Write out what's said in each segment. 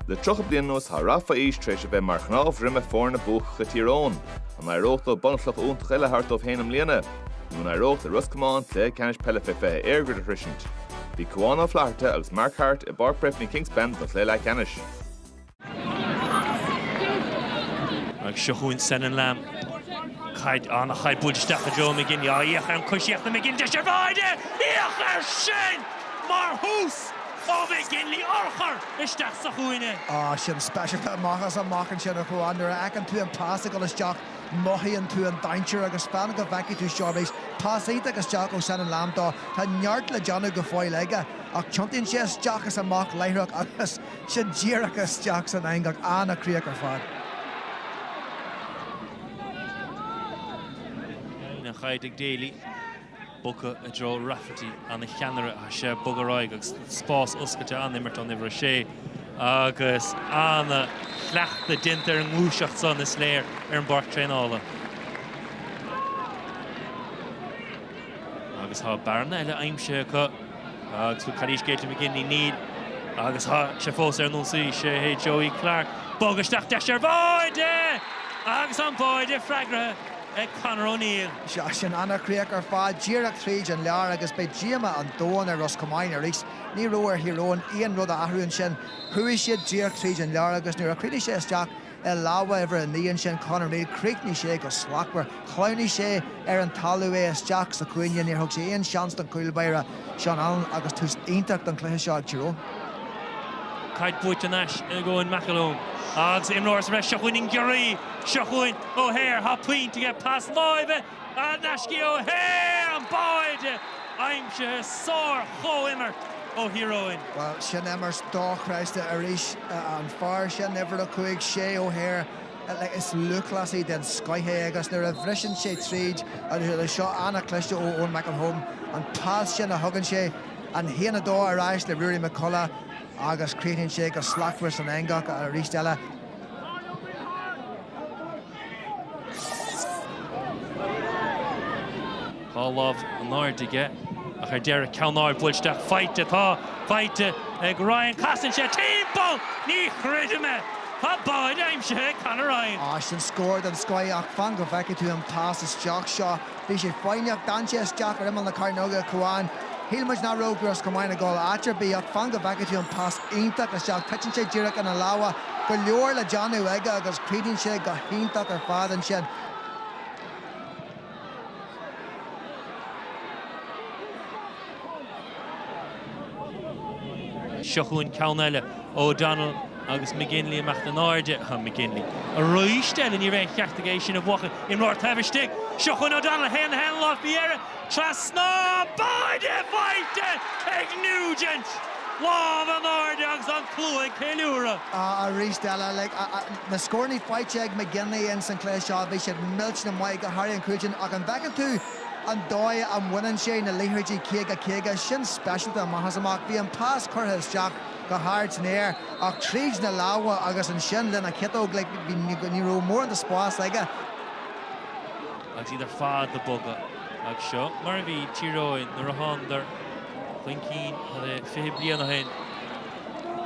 Le 30 bliain anuas tá rath fé aois tar éis a bheith mar chnámh droma foirne buacacha Thír Eoghain. An éireodh leo bunchloch iontach eile a thabhairt dóibh féin i mbliana? Nó an éireodh le Ros Comáin cluiche ceannais peile fé 20 EirGrid a shroisint? Bhí Cuán Ó Flatharta agus Mark Harte i bPáirc Breifne-Kingspan don chluiche leathcheannais. Agus seo chugainn Senan Lambe. Caid an-chaid buailte isteach i dtreo McGinley. Á féach ar an gcoisíocht ó McGinley. Deis ar bháide! Féach air sin! Mar thús ó McGinley, urchar isteach sa chúinne. Á, sin speisialta amach is amach ansin a Chuáin. Nuair a fheiceann tú an pas ag dul isteach, mothaíonn tú an dainséar agus fan go bhfeicfidh tú seo arís. Pas iontach isteach ó Senan Lambe dó. Tá neart le déanamh go fóill aige, ach tiontaíonn sé isteach is amach láithreach agus. sin díreach isteach san eangach an-chríoch ar fad. An chaid ag Daly, bogtha i dtreo Rafferty, an-cheannaire is ea é, bogtha ar aghaidh agus spás oscailte an-imirt ón uimhir 6 agus an-chleachtadh déanta ar an ngluaiseacht san, is léir, ar an bpáirc traenála. Agus tá bearna eile aimsithe acu. Agus an bhfuil calaois Caitlin McGinley, níl, agus tá sé fós ar an ionsaí, sé hé Joey Clarke, bogtha isteach, deis ar bháide! Agus an báide freagraithe ag Conor O'Neill. Sea, sin ana chríoch ar fad, díreach tríd an lár agus beidh díoma an domhain ar Ros Comáin arís. Ní raibh ar Thír Eoghain aon rud a athrú ansin. Chuaigh siad díreach tríd an lár agus nuair a chríochnaigh sé isteach, I lámha uimhir a naoi ansin, Conor O'Neill, chríochnaigh sé go slachtmhar. Shleamhnaigh sé ar an talamh, é isteach sa chúinne, níor thug sé aon seans don chúl báire, Seán Allen agus tús iontach don chluiche seo ag Tír Eoghain. Caid buaite thar n-ais ag Eoin McElholm agus imreoir sa bhreis, seo chugainn an giorria, seo chugainn O'Hare, há pointe aige, pas láimhe! n-ais go dtí O'Hare, an báide aimsithe, sár-chomhimirt ó Thír Eoghain. Bhuel, sin imirt dochreidte arís. An fear sin, uimhir a cúig, Shea O'Hare, is lúthchleasaí den scoith é agus nuair a bhriseann sé tríd an lár, seo an-chliste ó Eoin McElholm, an pas sin a thugann sé, an haon a dó ar ais le Ruairí McCullagh agus críochnaíonn sé go slachtmhar san eangach arís eile. Dhá lámh in airde aige ach ar deireadh ceann ard buailte isteach. Faighte atá faighte ag Ryan. Casann sé timpeall! Ní chreidim é! Tá báide aimsithe ag Conor Ryan! Sin scór den scoith ach fan go bhfeicfidh tú an pas isteach seo. Bhí sé foighneach, d'fhan sé isteach ar imeall na cearnóige, a Chuáin. Shíl muid nach raibh Ros Comáin ag dul áit ar bith, ach fan go bhfeicfidh tú an pas iontach isteach, titeann sé díreach ina lámha, go leor le déanamh aige agus críochnaíonn sé go hiontach ar fad ansin. Seo chugainn ceann eile, O'Donnell agus McGinley imeacht in airde. McGinley arís eile, ní raibh aon cheart aige é sin a bhuachan. Imreoir taobh istigh. Seo chugainn O'Donnell, a théann Senan Lambe faoi dheireadh trasna. Báide faighte ag Nugent! Lámh in airde agus an slua ag ceiliúradh. Arís eile, na scórannaí faighte ag McGinley in san cluiche seo, bhí siad millteanach maith, go háirithe an cúilín, ach an bhfeiceann tú, an dóigh a mbaineann sé na liathróidí 50 50, sin speisialta amach is amach. Bhí an pas curtha isteach go hard san aer ach tríd na lámha agus ansin lena chiotóg, like, ní raibh mórán de spás aige. Agus iad ar fad ag bogadh. Agus seo mar a bhí Tír Eoghain nuair a thánadar chun cinn, cad é, 20 bliain ó shin.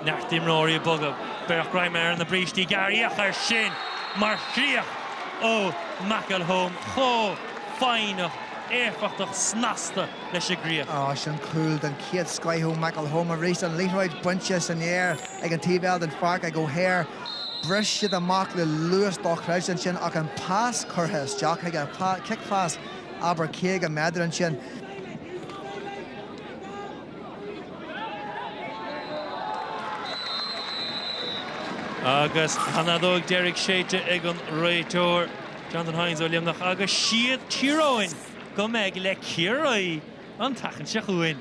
Neart d'imreoirí ag bogadh, breith greim ar na brístí gearra, féach air sin mar chríoch ó McElholm. Chomh. foighneach, éifeachtach, snasta leis an gcríoch. Agus an cúl den chéad scoth ó McElholm arís, an liathróid bainte san aer ag an taobh eile den pháirc ag O'Hare. Bhris siad amach le luas dochreidte ansin ach an pas curtha isteach chuige. Cic phas, abair 50 méadar ansin. Agus an fheadóg deiridh séidte ag an réiteoir. Jonathan Hayes ó Luimneach agus is iad Tír Eoghain go mbeidh le Ciarraí an tseachtain seo chugainn.